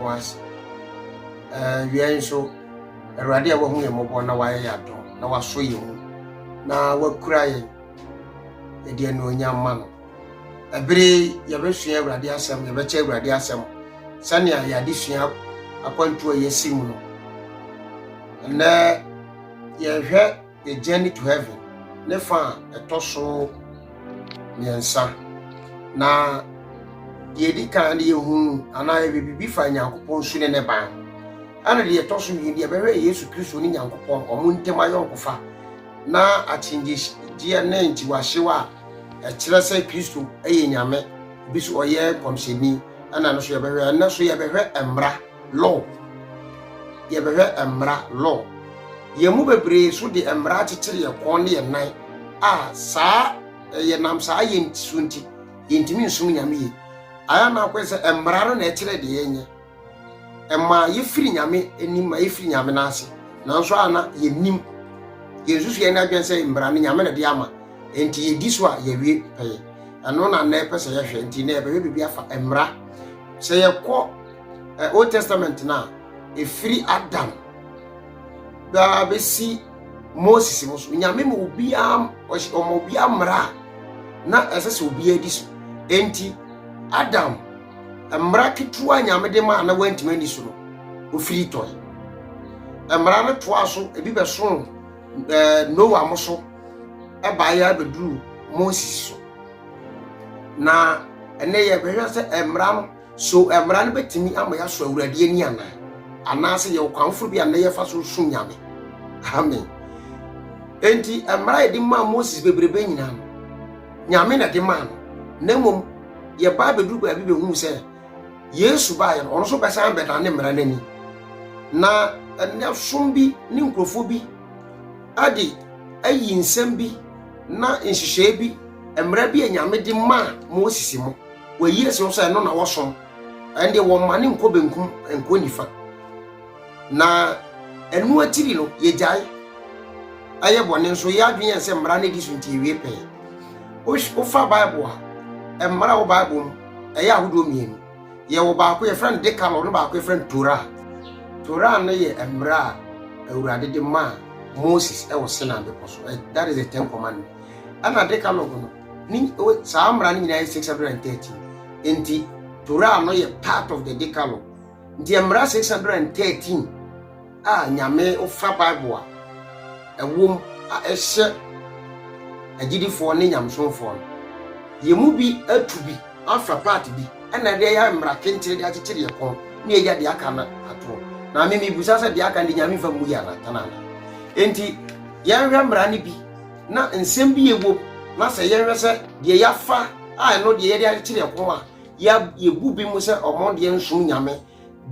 was awiai eh, nso awurade a wahu yɛn mmɔbɔ na wayɛ yɛn adom na wasɔ yɛn mu na wakura yɛn yɛde anuonyam ma no ɛbere yɛbɛsua awurade asɛm yɛbɛkyɛ awurade asɛm sɛnea yɛade sua akwantuo a yɛasi mu no ɛnɛ yɛhwɛ A Journey to Heaven ne fa a ɛtɔ so mmiɛnsa. Na deɛ ɛdi kan no yɛhunu anaa yɛbɛbibi fa Nyankopɔn su ne ne ban ho. Ɛna deɛ ɛtɔ so mmienu yɛbɛhwɛ Yesu Kristo ne Nyankopɔn wɔn ntam ayɔnkofa na akyinnyegyeɛ ne nkyiwahyew a ɛkyerɛ sɛ Kristo yɛ Nyame bi so ɔyɛ nkɔmhyɛni ɛna no so yɛbɛhwɛ ɛna so yɛbɛhwɛ mmara Law, Yɛbɛhwɛ mmara, law. Yɛn mu bebree nso de mmara akyekyere yɛn kɔn ne yɛn nan a saa yɛnam saa yɛ nti so nti yɛntumi nsom Nyame yie. Ayɛ na akɔyɛ sɛ mmara no na ɛkyerɛ deɛ yɛnyɛ. Ɛma yɛfiri Nyame anim ma yɛfiri Nyame no ase. Nanso a na yɛnim yɛn susuɛ ne adwene sɛ mmara no Nyame na de ama nti yɛdi so a yɛwie pɛyɛ. Ɛno na na ɛpɛ sɛ yɛhwɛ nti na yɛbɛhwɛ biribi afa mmara sɛ yɛkɔ eh, old testament no a ɛfiri adam baa bɛsi moses no so nyame ma obiaa ɔma obiaa mmara a na ɛsɛ sɛ obiaa di so enti adam mmara ketewa nyame de ma a na wantumi ani so no ofiri tɔe mmara no toa so ebi bɛsoo eh, noa mo so ɛbaeɛ abɛduru moses so na ɛnɛ yɛbɛhwɛ sɛ mmara no So Mmara no betumi ama yɛasɔ Awurade ani anaa? Anaasɛ yɛwɔ kwan foforo bi a nnɛ yɛfa so som Nyame? Amen. Enti, Mmara a yɛde maa Moses bebrebe nyinaa no, Nyame na ɛde maa no, na mmom yɛbaa bɛduru baabi bɛhuu sɛ Yesu baeɛ no, ɔno nso bɛsan bɛda ne mmara no ani. Na ɛnɛ som bi ne nkurɔfoɔ bi de ayi nsɛm bi na nhyehyɛe bi, mmara bi a Nyame de maa Moses mu. Wɔayi asi hɔ sɛ ɛno na wɔsom. Ɛnde wɔmmane nkɔ benkum, nkɔ nifa. Na ɛno akyiri no, yɛgyae. Ɛyɛ bɔne nso, yɛn adwene yɛn sɛ mmara no di so nti yɛwie pɛn. Wofa Bible a, mmara wɔ Bible mu, ɛyɛ ahodoɔ mmienu. Yɛwɔ baako yɛfrɛ no Decalogue no baako yɛfrɛ no Torah. Torah no yɛ mmara a Awurade de maa Moses wɔ Sinai bepɔ so. That is the Ten Commandments. Ɛna Decalogue no, ne saa mmara no nyinaa yɛ 613 nti torah no yɛ part of the decalogue nti mmara 613 a nyame wofa bible a ɛwom a ɛhyɛ agyidifoɔ ne nyamesomfoɔ no yɛ mu bi atu bi afa part bi ɛna deɛ yɛ mmara kenkyere de akyekyere yɛ kɔn ne yɛgya deɛ aka no ato na me mebusa sɛ deɛ aka no de nyame fa mu yɛ anatana nti yɛnhwɛ mmara no bi Na nsɛm bi yɛ wom, na sɛ yɛhwɛ sɛ deɛ yɛafa a ɛno deɛ yɛde akyere ɛho a, yɛbu bi mu sɛ ɔmo deɛ nsom nyame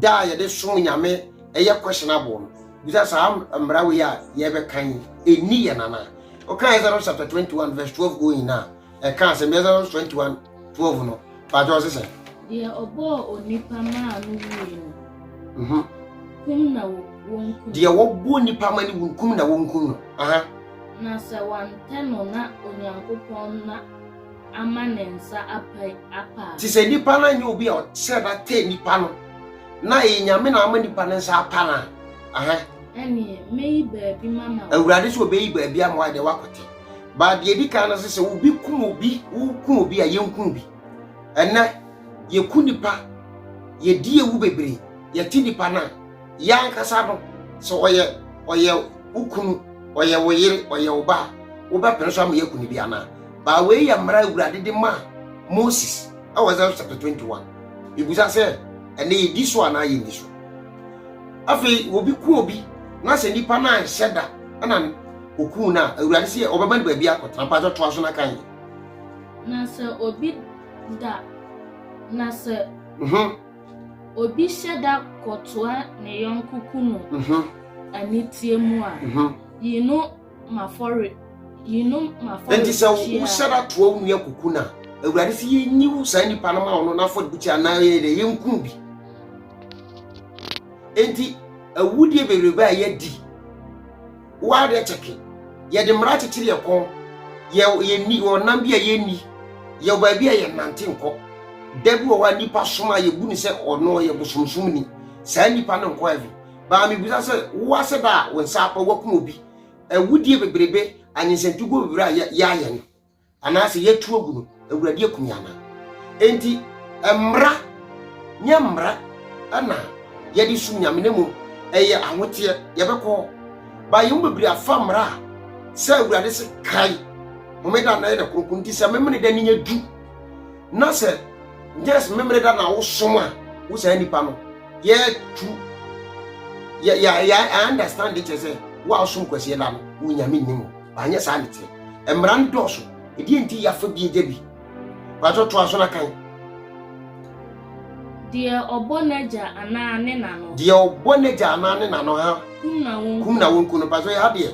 da a yɛde som nyame ɛyɛ questionable no bisa saa mmara wei a yɛbɛka yi ɛni yɛn anaa? Ɔkaeɛ sɛ no chapter 21 verse 12 going a ɛka asɛm bi Exodus twenty one twelve no paatwa ɔsi sɛ. deɛ ɔbɔɔ onipa maa no wui no. Mhm. kum na wɔnkum. deɛ wɔbɔɔ nipa ma no wu kum na wɔnkum no. Aha. na sɛ wantɛ no na onyankopɔn na ama ne nsa apa apa. te sɛ nipa no anyɛ obi a ɔsɛ na tɛ nipa no na ɛyɛ nyame na ama nipa no nsa apa no a. Aha. ɛneɛ mɛyi baabi mama. awurade sɛ ɔbɛyi baabi ama wo a deɛ woakɔtɛ. Ba deɛ ɛdi kan no sɛ sɛ obi kum obi wokum obi a yɛnku obi ɛnɛ yɛku nipa yɛdi ewu bebree yɛte nipa no a yɛ ankasa no sɛ ɔyɛ ɔyɛ wo kunu ɔyɛ wo yere ɔyɛ wo ba a wobɛpene so ama yɛaku no bi anaa baa wei yɛ mmara awurade de maa moses ɛwɔ exodus chapter 21 ebusa sɛ ɛnɛ yɛdi so anaa yɛnni so afei obi ku obi na sɛ nipa no anhyɛ da ɛna Okuu no a, Awurade sɛ ɔbɛma no baabi akɔtena. Mpatsɔ toa so na kan yɛ. Na sɛ obi da, na sɛ mhm. obi hyɛ da kɔtoa ne yɔnko kunu mhm. aniteɛ mu a, mhm. yi no mafɔre, yi no mafɔre. Enti sɛ wohyɛ da toa wo nua kuku no a, Awurade sɛ yɛnyi wo saa nipa no ma ɔno n'afɔrebukyia anaa yɛyɛ dɛ yɛnku bi. Enti awudie bebrebe a yɛadi woadeɛ kyɛke yɛde mmara kyekyere yɛ kɔn yɛ yɛni ɔnam bi a yɛnni yɛ baabi a yɛnante nkɔ da bi wɔ hɔ a nipa som a yɛbu ne sɛ ɔno ɔyɛ bosomsom ni saa nipa no nkɔ avi baa mebisa sɛ wo ase da a wo nsa apa woakum obi awudie bebrebe anyensɛntuguo bebrebe a yɛayɛ no Anaasɛ yɛatu agu no, Awurade akum yɛn anaa? Enti mmara nyɛ mmara na yɛde som Nyame na mmom ɛyɛ ahoteɛ yɛbɛkɔ hɔ. Ba yɛn mu bebree afa mmara a sɛ Awurade se kae homeda na yɛ da kronkron nti sɛ memene da ne yɛ du na sɛ yes memene da na wosom a wo saa nipa no yɛtu yɛ yɛ yɛ understand kyerɛ sɛ wo a wosom kwasiɛ da no wo Nyame nnim anyɛ saa ne te mmara no dɔɔso ɛdeɛ nti yɛafa bi agya bi paatɔ toa so na kan deɛ ɔbɔ n'agya anaa ne na no deɛ ɔbɔ n'agya anaa ne na no ha kum na wɔn kum na wɔn ku no paatɔ yɛ ha deɛ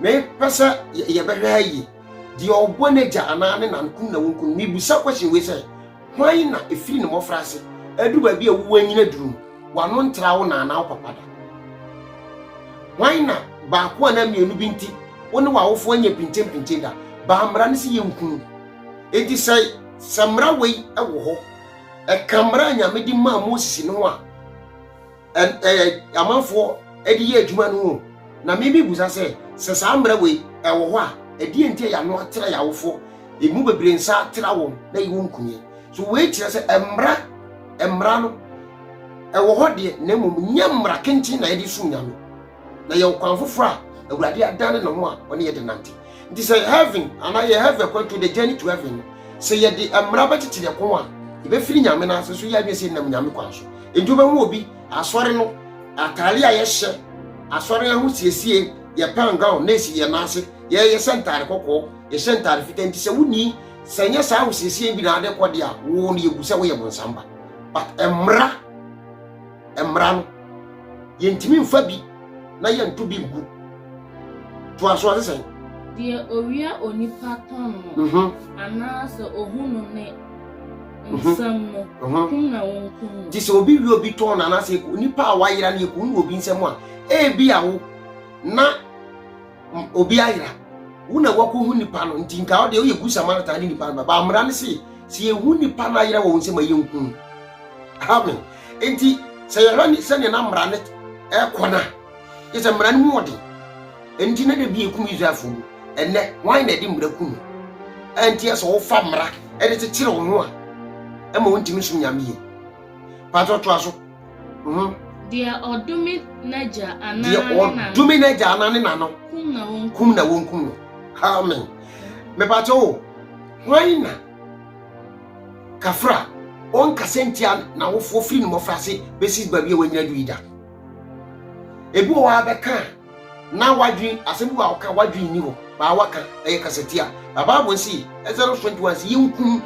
mepɛ sɛ yɛbɛhwɛ ha yie deɛ ɔbɔ n'agya anaa ne na no kum na wɔn ku no mebusa question wei sɛ Hwan na ɛfiri ne mmɔfraase aduru baabi a wowɔ anyini aduru no, w'ano ntra wo na anaa wo papa da? Hwan na baako anaa mmienu bi nti wo ne w'awofoɔ nyɛ pinkyenpinkyen da? Baa mmara no sɛ yɛnkunu. Enti sɛ sɛ mmara wei wɔ hɔ, ɛka mmara a Nyame de maa Moses no ho a, amanfoɔ de yɛ adwuma no ho na mimi busa sɛ sɛ saa mmerɛ wei ɛwɔ hɔ a ɛdeɛ nti a yɛano atra yɛ awofoɔ ɛmu bebree nsa atra wɔn na yi wɔn nkunie so wei kyerɛ sɛ mmara mmara no ɛwɔ hɔ deɛ na mmom nyɛ mmara kenten na yɛde som nyame na yɛ ɔkwan foforɔ a awurade adane ne ho a ɔne yɛde nante nti sɛ heaven anaa yɛ heaven kwan to the journey to heaven no sɛ yɛde mmara bɛtete yɛ kɔn a yɛbɛfiri nyame no ase so yɛ adwene sɛ nam nyame kwan so nti wobɛhu obi asɔre no atare a yɛhyɛ asɔre no ho siesie yɛ pan gown na ɛsi yɛ nan ase yɛyɛ sɛ ntare kɔkɔɔ yɛhyɛ ntare fita nti sɛ woni sɛ nyɛ saa wosiesie bi na ade kɔde a wo no yɛbu sɛ woyɛ bonsamba but mmara mmara no yɛntumi mfa bi na yɛnto bi ngu toa so ɔse sɛn deɛ owia onipa tɔn no mhm. anaasɛ ohu no ne mhm. nsɛm no mhm. kum na wɔnkum no nti sɛ obi wie obi tɔn no anaasɛ onipa a wayera no yɛkum no wɔ obi nsɛm a ebi a wo na obi ayera wo na wakɔhu nipa no nti nka wode woyɛ gu samaritan ne nipa no bɛba mmara no se sɛ yɛhu nipa no ayera wɔ wo nsɛm a yɛnhu amen nti sɛ yɛhwɛ ne sɛdeɛ na mmara no ɛkɔ no a yɛ sɛ mmara no mu ɔden nti na da bi yɛkum israelfoɔ mu ɛnɛ wan na ɛde mmara kum ɛnti ɛsɛ wofa mmara ɛde kyekyere wo ho a ɛma wontumi som nyame yie patɔ toa so Mhm. Deɛ ɔdome n'agya anaa deɛ ne nana. ɔdome n'agya anaa ne nana Kum na wɔn kum. kum na wɔnkum no amen mepakyɛ o hwan na kafra ɔnkasa ntia n'awofoɔ firi ne mmɔfra ase bɛsi baabi a wanyina du yi da ebi wɔ hɔ a bɛka a na wadwen asɛm bi wɔ a woka a wadwen nni hɔ baa waka ɛyɛ kasatia na bible se exodus 21 se yɛnkum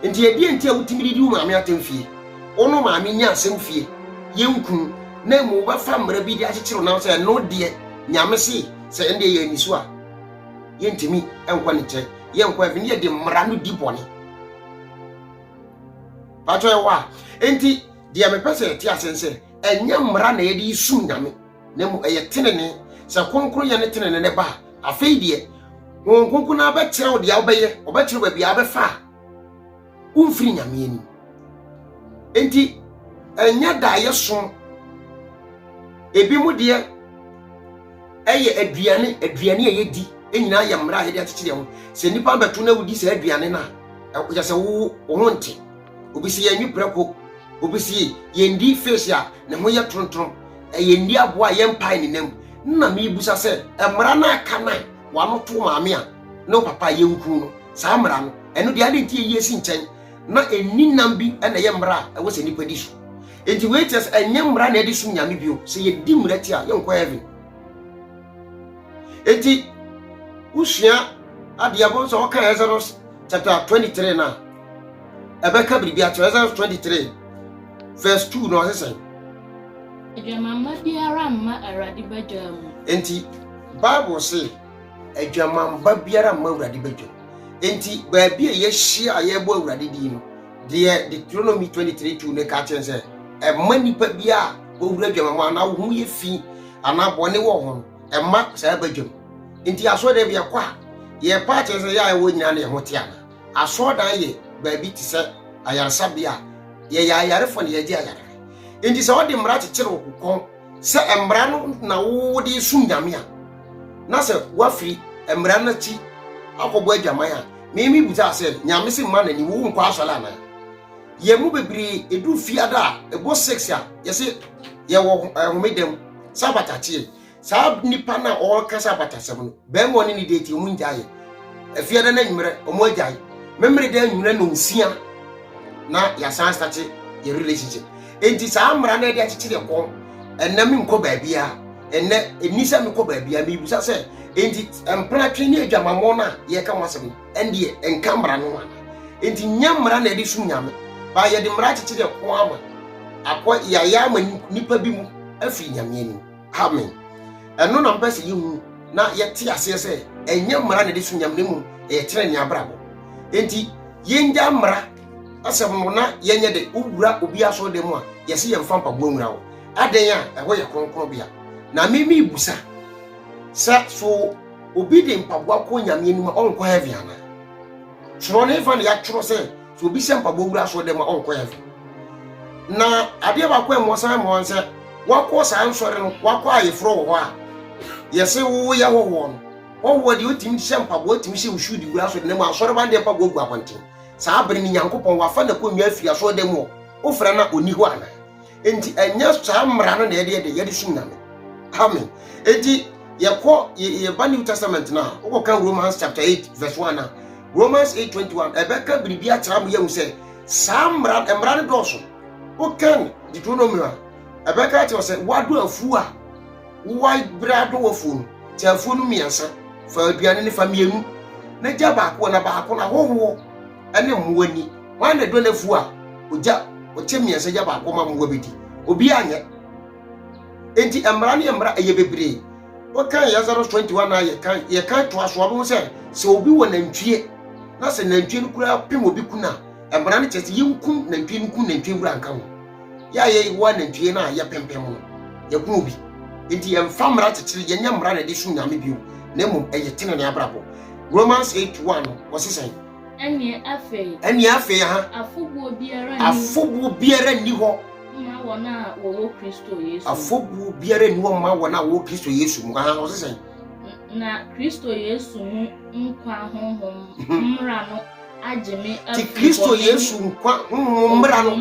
Nti ɛdeɛn nti a wotumi didi wo maame atɛm fie? Wo ne wo maame nyɛ asɛm fie, yɛ nkunu, na mmom wobɛfa mmara bi de akyekyere wo nam sɛ ɛno deɛ Nyame se sɛ ɛno deɛ yɛanni so a yɛntumi nkɔ ne nkyɛn, yɛnkɔ heaven, yɛde mmara no di bɔne. Patɔ yɛ hɔ a, nti deɛ mepɛ sɛ yɛte ase sɛ ɛnyɛ mmara na yɛde sum Nyame. na mmom ɛyɛ tenenee. Sɛ kronkronyɛ ne tenenee no ba a, afei deɛ Honhom Kronkron no abɛkyerɛ wo deɛ wobɛyɛ, ɔbɛkyerɛ baabi a wobɛfa a womfiri Nyame anim. Enti ɛnyɛ daeɛ som, ebi mu deɛ ɛyɛ aduane, aduane a yɛdi nyinaa yɛ mmara a yɛde akyekyere ho. Sɛ nnipa bɛto na wodi saa aduane no a, ɛkyɛ sɛ wo ho nte. Obi si yɛn prɛko. Obi si yɛn di face a ne ho yɛ torontoro. Ɛyɛ ndi aboa a yɛn pae ne nam. Nna mi busa sɛ mmara no aka nan wano to maame a ne papa yɛ nkunu no. Saa mmara no ɛno deɛ adi nti ɛyi esi nkyɛn na ɛnni nam bi ɛna ɛyɛ mmara a ɛwɔ sɛ nipa di so. Nti wei kyerɛ sɛ ɛnyɛ mmara na ɛde sum nyame bio. Sɛ yɛ di mmara ti a yɛn kɔ heaven. Nti wosua adeɛ bɔ sɛ ɔka Exodus chapter 23 na. ɛbɛka biribi akyerɛ exodus 23 verse 2 na ɔse sɛn adwamamma biara mma awurade badwa mu enti bible se adwamamma biara mma awurade badwa mu enti baabi a yɛahyia a yɛbɔ awurade din no deɛ deuteronomy 23 2 ne ka kyerɛ sɛ ɛma nnipa bi a wɔwura adwamamma anaa wo ho yɛ fi anaa bɔne wɔ ho no ɛma saa badwa mu enti asɔre dɛ bi yɛkɔ a yɛpa akyerɛ sɛ yɛ a ɛwɔ nyina ne ɛho te ana Asɔrdan yɛ baabi te sɛ ayaresabea a yɛyɛ ayarefo na yɛgye ayare. Enti sɛ wɔde mmara kyekyere wo kokɔn sɛ mmara no na wode resom Nyame a, na sɛ woafiri mmara no akyi akɔbɔ adwaman a, meme bisa sɛ, Nyame se mma n'ani wo nkɔ asɔre anaa? Yɛn mu bebree edu fiada a ɛbɔ six a yɛse yɛwɔ homeda mu, Sabbath akyeɛ. Saa nipa no a ɔrekasa abatasɛm no, bɛrima ɔne ne deɛ ti ɔmo ngyaeɛ. Afiada no anwummerɛ ɔmo agyae. Memmere dɛ anwummerɛ na nsia na yɛasan astate yɛ relationship. Enti saa mmara no ɛde akyekyere ɛkɔn. Ɛnɛ menkɔ baabiara. Ɛnɛ ɛni sɛ mekɔ baabiara. Mebusa sɛ enti mpratwe ne adwamammɔ no a yɛka ho asɛm no ɛndeɛ ɛnka mmara no ho ana? Enti nyɛ mmara na ɛde som nyame. Baa yɛde mmara akyekyere ɛkɔn ama akɔ yɛayɛ ama nipa bi mu afiri nyame anim. Amen. Ɛno na mpɛ sɛ yehu na yɛte aseɛ sɛ ɛnyɛ mmara na ɛde so nyam na mmom ɛyɛ tena ne abrabɔ. Enti yɛngya mmara asɛm no na yɛnyɛ de wowura obi asɔ dɛ mu a yɛse yɛmfa mpaboa nwura wo. Adɛn a ɛhɔ yɛ kronkron bea. Na me me busa sɛ so obi de mpaboa kɔ nyame anim a ɔnkɔ heaven anaa? Twerɛ no efa na yɛatwerɛ sɛ So obi hyɛ mpaboa wura asɔre dɛm a ɔnkɔ heaven? Na adeɛ baako a ɛmɔ san mmoa n sɛ wakɔ saa nsɔre no wakɔ ayeforɔ wɔ hɔ a yɛse woyɛ hɔhoɔ no hɔhoɔ deɛ ɔtumi hyɛ mpaboa ɔtumi hyɛ nsuo de wura asɔre dɛm a asɔre ba no deɛ mpaboa gu abɔnten saa bere no nyankopɔn wafa na kɔnnwa afiri asɔre dɛm hɔ wofrɛ no a ɔni hɔ anaa Enti ɛnyɛ saa mmara no na yɛde yɛde yɛde som nyame. Amen. Enti yɛkɔ yɛba New Testament no a wokɔka Romans chapter 8 verse 1 a Romans 8:21 ɛbɛka biribi akyerɛ mo yɛhu sɛ saa mmara mmara no dɔɔso. Wokan Deuteronomy a ɛbɛka akyerɛ sɛ woado afuo a woabrɛ adɔ wafuo no kyɛ afuo no mmiɛnsa fa aduane no fa mmienu na gya baako na baako na hohoɔ ne mmoa nni. Hwan na ɛdɔ n'afuo a ogya ɔkyɛ mmiɛnsa gya baako ma mmoa bɛdi? Obiara nyɛ. Enti mmara ne mmara ɛyɛ bebree. Wɔkan Exodus 21 na yɛkan yɛkan toa so ɔbɛhu sɛ sɛ obi wɔ nantwie na sɛ nantwie no koraa pem obi kun a mmara no kyerɛ sɛ yɛnkum nantwie no nkum nantwie wura nka ho. Yɛ a yɛyɛ wɔ anantwie no a yɛpempem no, yɛhunu bi. Enti yɛmfa mmara kyekyere, yɛnyɛ mmara na yɛde som Nyame bio, na mmom ɛyɛ tenenee abrabɔ. Romans eight one no, wɔse sɛn? Ɛnneɛ afei. Ɛnneɛ afei, aha. Afobuo biara nni. Afobuo biara nni hɔ. Mma wɔn a wɔwɔ Kristo Yesu. Afobuo biara nni hɔ mma wɔn a wɔwɔ Kristo Yesu mu. Aha, wɔse sɛn? Na Kristo Yesu mu nkwa honhom mmara no. agye me afi ti Kristo Yesu nkwa honhom mmra no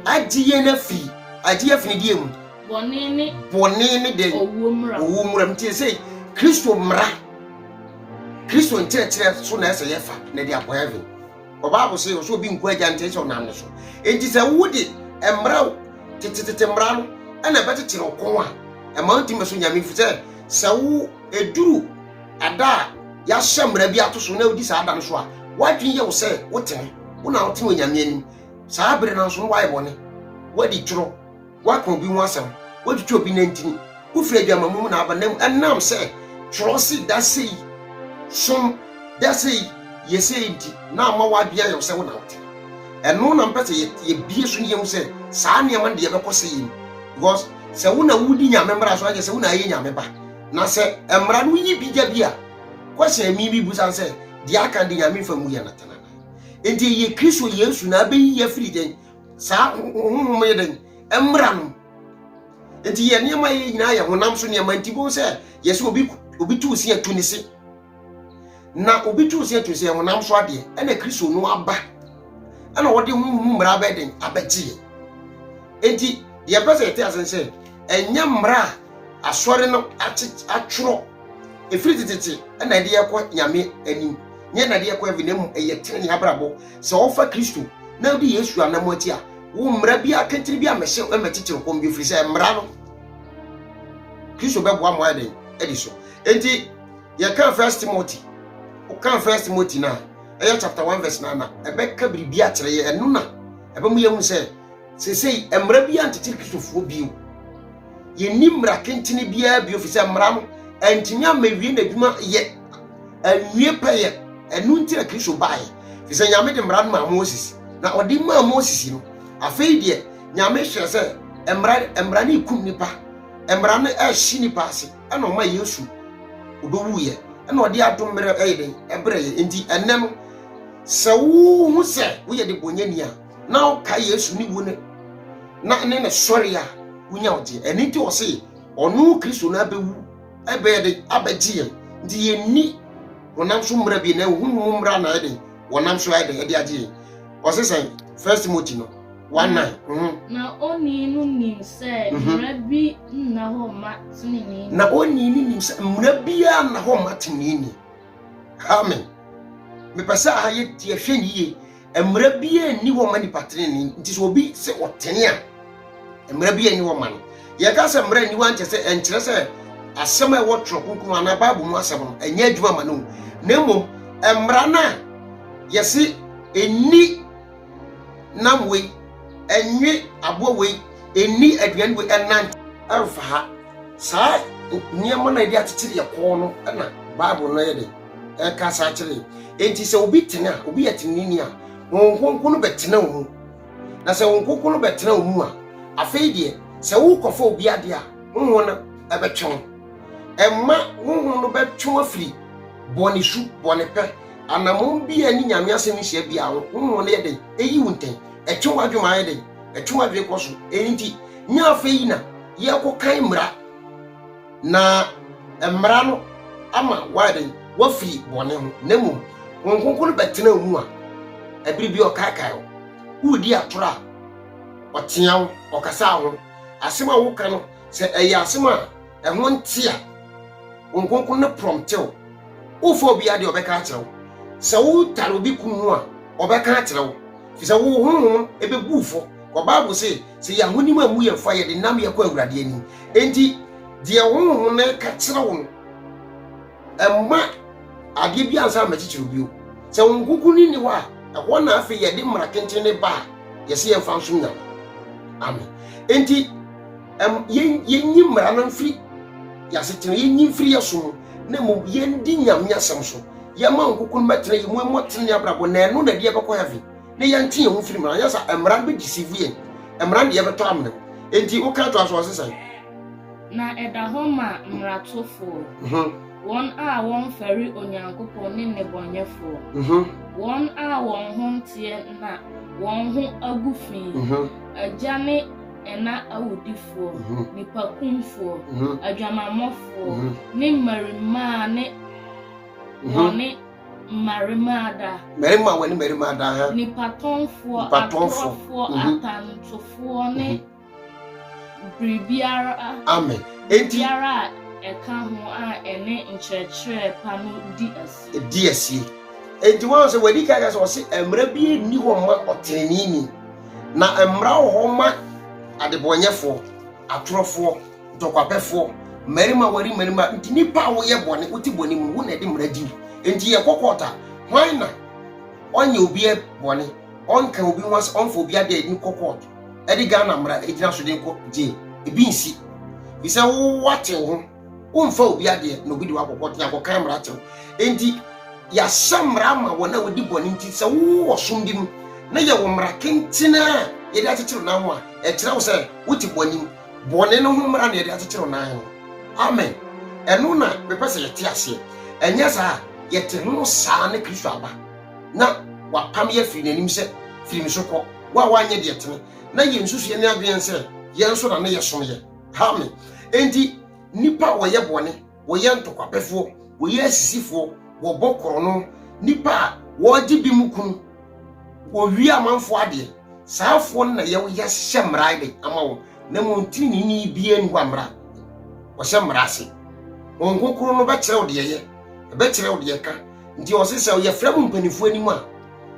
agye yɛn afi agye afi ne deɛ mu bɔne ne bɔne ne deɛ owuo mmra owuo mmra mu tie sɛ Kristo mmra Kristo nkyerɛkyerɛ so na ɛsɛ yɛfa na ɛde akɔ heaven ɔbaabo sɛ ɔsɛ obi nkɔ agya nkyɛn sɛ ɔnam ne so enti sɛ wode mmra tetetete mmra no ɛna ɛbɛkyekyere ɔkɔn a ɛma ntumi so nyame fi sɛ sɛ wo eduru Ɛda a yɛahyɛ mmara bi ato so na wodi saa da no so a, w'adwene yɛ wo sɛ wotene, wo na wotene wɔ Nyame anim. Saa bere no ara nso no woayɛ bɔne, woadi toro, woaka obi ho asɛm, woatwitwa obi nantini, wofiri adwamammɔ mu na aba, na ɛnam sɛ twerɛ se da sei, som da sei, yɛ sei nti na ama w'adwene ayɛ wo sɛ wo na wotene. Ɛno na mpɛ sɛ yɛbie so ne yɛhu sɛ saa nneɛma no de yɛbɛkɔ sɛ yɛn. Because sɛ wo na wodi Nyame mmara so a, ɛnyɛ sɛ wo na ayɛ Nyame ba. Na sɛ mmara no yi bi gya bi a, kɔhyɛ me bi busan sɛ, deɛ aka de Nyame fa mu yɛ no tena nan. Enti ɛyɛ Kristo Yesu na abɛyi yɛ afiri dɛn? Saa honhom yɛ dɛn? Mmara no. Enti yɛ nneɛma yɛ nyinaa yɛ honam so nneɛma nti bohu sɛ yɛsɛ obi obi tu si atu ne se. na obi too sɛ to sɛ honam so adeɛ ɛna kristo no aba ɛna wɔde ho mu mmara abɛyɛ den abɛgyeɛ enti deɛ mpɛ sɛ yɛte ase sɛ ɛnyɛ mmara a asɔre no atwerɛ ɛfiri tetete ɛna ɛde yɛkɔ nyame anim nyɛ na ɛde yɛkɔ ɛvi na mu ɛyɛ tene ne abrabɔ sɛ ɔfa kristo na wode yesu anam akyi a wo mmara bi akentene bi a mɛhyɛ ɛmɛ titiri kɔm bi ɛfiri sɛ mmara no kristo bɛboa mo ayɛ den ɛde so enti yɛka first timothy woka first timothy no a ɛyɛ chapter 1 verse 9 na ɛbɛka biribi akyerɛ yɛ ɛno na ɛbɛmu yɛhu sɛ seesei mmara bi antete kristofoɔ bio yɛnni mmara kentene biara bio fi sɛ mmara no antumi amawie n'adwuma yɛ anwie pɛyɛ ɛno nti na kristo baeɛ fi sɛ nyame de mmara no maa moses na ɔde maa moses no afei deɛ nyame hwɛ sɛ mmara mmara no ekum nipa mmara no ɛhye nipa ase ɛna ɔma Yesu obewuiɛ, ɛna ɔde adom mmerɛ ɛyɛ dɛn ɛbrɛ yɛ. Nti ɛnɛ no sɛ wohu sɛ woyɛ de bɔnyɛni a na woka Yesu ne wuo ne na ne ne sɔre a wonya ɔgyeɛ. Ɛno nti ɔse ɔno Kristo no abɛwu ɛbɛyɛ de abɛgye yɛn. Nti yɛnni honam so mmara bi na ɛhonhom mmara na ɛyɛ dɛn wɔnam so ayɛ dɛn ɛde agye yɛn. Ɔse sɛn First Timothy no Wana. Mhm. Na onii no nim sɛ mhm. mmara bi nna hɔ mma tenenee ni. Na onii no nim sɛ mmara biara nna hɔ mma tenenee ni. Amen. Mepɛ sɛ aha yɛ tie hwɛ ne yie. Mmara biara nni hɔ mma nipa tenenee nti sɛ obi sɛ ɔtene a mmara biara nni hɔ mma no. Yɛka sɛ mmara nni hɔ ankyɛ sɛ ɛnkyerɛ sɛ asɛm a ɛwɔ twerɛ kronkron anaa bible mu asɛm no ɛnyɛ adwuma ma no na mmom mmara no a yɛse ɛni nam wei, ɛnwe aboa wei, ɛnni aduane wei, ɛnante. ɛmfa ha. Saa nneɛma no a yɛde akyekyere yɛ kɔn no na Bible no yɛ de ɛka saa kyerɛ yɛn. Enti sɛ obi tene a, obi yɛ tenenini a, Honhom Kronkron no bɛtena wo mu. Na sɛ Honhom Kronkron no bɛtena wo mu a, afei deɛ sɛ wokɔfa obi adeɛ a, Honhom no ɛbɛtwe wo. Ɛma Honhom no bɛtwe wo afiri bɔne su, bɔne pɛ, Anammɔn bi a ɛne Nyame asɛm nhyia biara ho honhom no yɛ dɛn? Eyi wo ntɛn, ɛtwe w'adwene ma ayɛ dɛn? Ɛtwe w'adwene kɔ so. Ɛno nti, nyɛ afei na yɛrekɔkan mmara, na mmara no ama woayɛ dɛn? Woafiri bɔne ho, na mmom Honhom Kronkron no bɛtena wo mu a, ɛbere bi ɔkaekae wo, woredi atoro a, ɔtea wo, ɔkasa wo ho. Asɛm a woka no, sɛ ɛyɛ asɛm a ɛho nte a, Honhom Kronkron no prɔmte wo. womfa obiara deɛ ɔbɛka akyerɛ wo sɛ wotare obi kunu ho a ɔbɛka akyerɛ wo fi sɛ wo honhom ɛbɛbu fɔ kɔ bible se sɛ yɛ ahonim a mu yɛ mfa yɛde nam yɛkɔ awurade ani enti deɛ honhom no ka kyerɛ wo no ɛma adeɛ bi ansa ma kyekyere bio sɛ wo nkonkun ni hɔ a ɛhɔ na afei yɛde mmara tenten ne ba a yɛse yɛmfa nsom nyame amen enti yɛnyi mmara no mfiri yɛasetena yɛnyi mfiri yɛ so mu na mmom yɛndi nyame asɛm so yɛma nkoko no bɛtena yɛ mu ɛmmɔ tene abrabɔ na ɛno na ɛde yɛbɛkɔ heaven na yɛnte yɛn ho firi mmara nyɛ sa mmara no bɛdisivu yɛn mmara no de yɛbɛtɔ amena mu enti woka to aso ɔse sɛn na ɛda hɔ ma mmaratofoɔ mhm. wɔn a wɔmfɛre onyankopɔn ne nnebɔnyɛfoɔ mhm. wɔn a wɔn ho nteɛ na wɔn ho agu fi mhm. agya ne ɛna awudifoɔ, nnipakumfoɔ, adwamammɔfoɔ, ne mmarimaa ne wɔne mmarimaa da. Mmarima wɔne mmarima da ha. Nipatɔnfoɔ, atorɔfoɔ, atantofoɔ ne biribiara. Amen. Enti. Biribiara a ɛka ho a ɛne nkyerɛkyerɛ pa no di asie. Di asie. Enti wɔn sɛ wɔadi kan sɛ wɔsi mmerɛ bi nni hɔ mma ɔtrenini. Na mmara wɔ hɔ ma adebɔnyɛfoɔ, atorɔfoɔ, ntɔkwapɛfoɔ, mmarima ware mmarima, nti nnipa a woyɛ bɔne, wote bɔne mu, wo na ɛde mmara di wo. Nti yɛkɔ court a, hwan na ɔnyɛ obi bɔne, ɔnka obi ho asɛ, ɔmfa obi adeɛ ne kɔ court, ɛde Ghana mmara gyina so de kɔ jail, ebi nsi, fi sɛ wowatew ho. womfa obi adeɛ na obi de wakɔkɔ te akɔkan mmara tew enti yɛahyɛ mmara ma wɔn a wɔdi bɔne nti sɛ wowɔ som bi mu na yɛwɔ mmara kenten a yɛde akyekyere nan ho a ɛkyerɛ wo sɛ wote bɔne mu bɔne no ho mmara na yɛde akyekyere nan ho amen ɛno na mepɛ sɛ yɛte aseɛ ɛnyɛ saa yɛte ho saa ne kristo aba na wapam yɛ firi n'anim sɛ firi me so kɔ wo a woanyɛ deɛ tene na yɛnsusuɛ ne adwene sɛ yɛn nso na ne yɛsom yɛ Amen. Enti nipa a wɔyɛ bɔne, wɔyɛ ntokwapɛfoɔ, wɔyɛ asisifoɔ, wɔbɔ korɔno, nipa a wɔregye bi mu kunu, wɔwie amanfoɔ adeɛ, saafoɔ no na yɛhyɛ mmara de ama wɔn na mmom tirinini biara ni hɔ a mmara wɔhyɛ mmara ase wɔn kokoro no bɛkyerɛ wo deɛ yɛ ɛbɛkyerɛ wo deɛ ka nti ɔse sɛ yɛfrɛ mo mpanimfoɔ anim a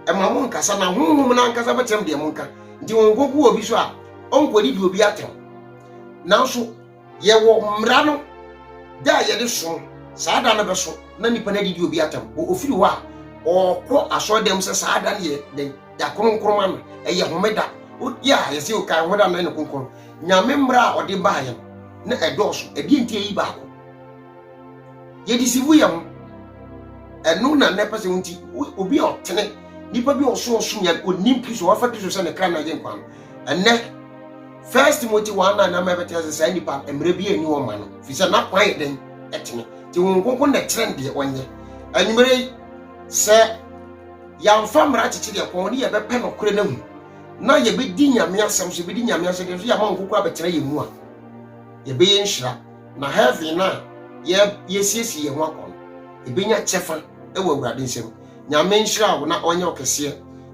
ɛma mo nkasa na honhom no ankasa bɛtɛm deɛ monka nti ho nkoko wɔ bi so a ɔnkɔdidi obi atɛm nanso yɛwɔ mmara no da a yɛde som saa da no bɛso na nipa no adidi obi atɛm ofiri hɔ a ɔkɔ asɔredɛm sɛ saa da no yɛ dɛn yɛakronkron ma no ɛyɛ homeda yɛ a yɛsɛ yɛkae homeda no ne kronkron nyame mmara a ɔde baa yɛn na ɛdɔɔso ɛdeɛ nti ɛyi baako yɛde si wo yɛ ho ɛno na na ɛpɛ sɛ nti obi a ɔtene nipa bi a ɔso ɔsom yɛ onim kristo wafa kristo sɛ ne kra na agye nkwa no ɛnɛ first timothy one nine na mɛbɛtɛ sɛ saa nipa mmerɛ bi ani wɔn ma no fi sɛ n'akwan yɛ dɛn ɛtene te wɔn nkonko na ɛkyerɛ deɛ ɔnyɛ anwummerɛ yi sɛ yɛamfa mmara akyekye deɛ kɔn ne yɛbɛpɛ nɔkorɛ no ahu na yɛbɛdi nyame asɛm so yɛbɛdi nyame asɛm so yɛama nkokora bɛtena yɛ mu a yɛbɛyɛ nhyira Na heaven no a yɛasiesie yɛn ho akɔ no, yɛbɛnya kyɛfa wɔ Awurade nsam. Nyame nhyira wo na ɔnyɛ ɔkɛseɛ.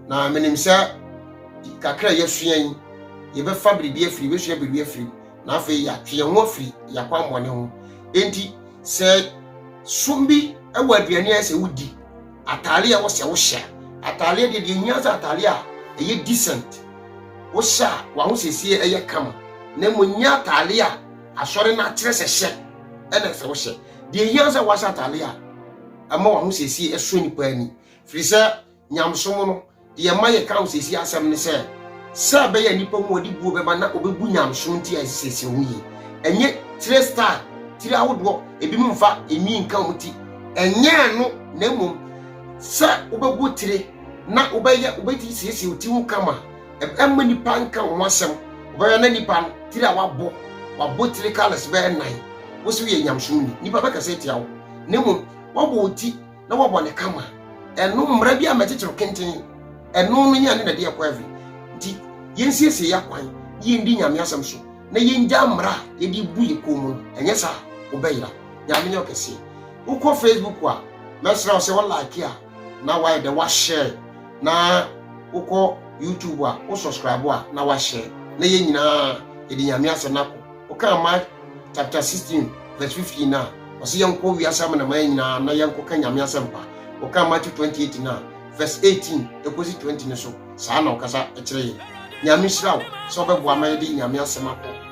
Na menim sɛ kakra a yɛasua yi, yɛbɛfa biribi afiri, yɛbɛsua biribi afiri, na afei yɛatwe yɛn ho afiri yɛakwammɔne ho. Enti sɛ som bi wɔ aduane a sɛ wodi, ataare a ɛwɔ sɛ wohyɛ, ataare deɛ deɛ hia sɛ ataare a ɛyɛ decent, wohyɛ a w'ahosiesie ɛyɛ kama, na mmom nyɛ ataare a Asɔre no akyerɛ sɛ hyɛ ɛna ɛsɛ wohyɛ. Deɛ ɛhia wo sɛ woahyɛ atade a ɛma w'ahosiesie ɛsɔ nnipa ani. Firi sɛ nyamesom no, deɛ ɛma yɛka ahosiesie asɛm ne sɛ, sɛ ɛbɛyɛ a nnipa hu wɔde buo bɛba na wɔbɛbu nyamesom nti a yɛsesiesie ho yie. Ɛnyɛ tire style, tiri ahodoɔ, ebinom mfa nwi nka wɔn ti. Ɛnyɛ ɛno na mmom sɛ wobɛbɔ tire na wobɛyɛ wobɛti siesie wo ti ho kama. ɛmma nipa nka wo ho asɛm wobɛyɛ na nipa no tiri a wabɔ wabɔ tiri kalas bɛyɛ nan wo so yɛ nyamsom ni nipa bɛkasa atia wo na mmom wabɔ wo ti na wabɔ ne kama ɛno mmara bi a mɛkyekyere kenten ɛno no nyɛ ne na de ɛkɔ ɛfi nti yɛnsiesie yɛ akwan na yɛndi nyame asɛm so na yɛngya mmara a yɛde bu yɛ kɔn mu no ɛnyɛ saa wobɛyera nyame nyɛ ɔkɛseɛ wokɔ facebook a mɛsrɛ wo sɛ wo like a na wayɛ dɛ wahyɛ na wokɔ YouTube a wo subscribe a na wahyɛ na yɛn nyinaa yɛde nyame asɛm no akɔ wokaa Mark chapter 16 verse 15 no a ɔsɛ yɛnkɔ wiase amanaman nyinaa na yɛnkɔka nyame asɛmpa wokaa Matthew 28 no a verse 18 ɛkɔsi 20 no so saa na ɔkasa kyerɛ yɛn nyame hyira wo sɛ wobɛboa ma yɛde nyame asɛm akɔ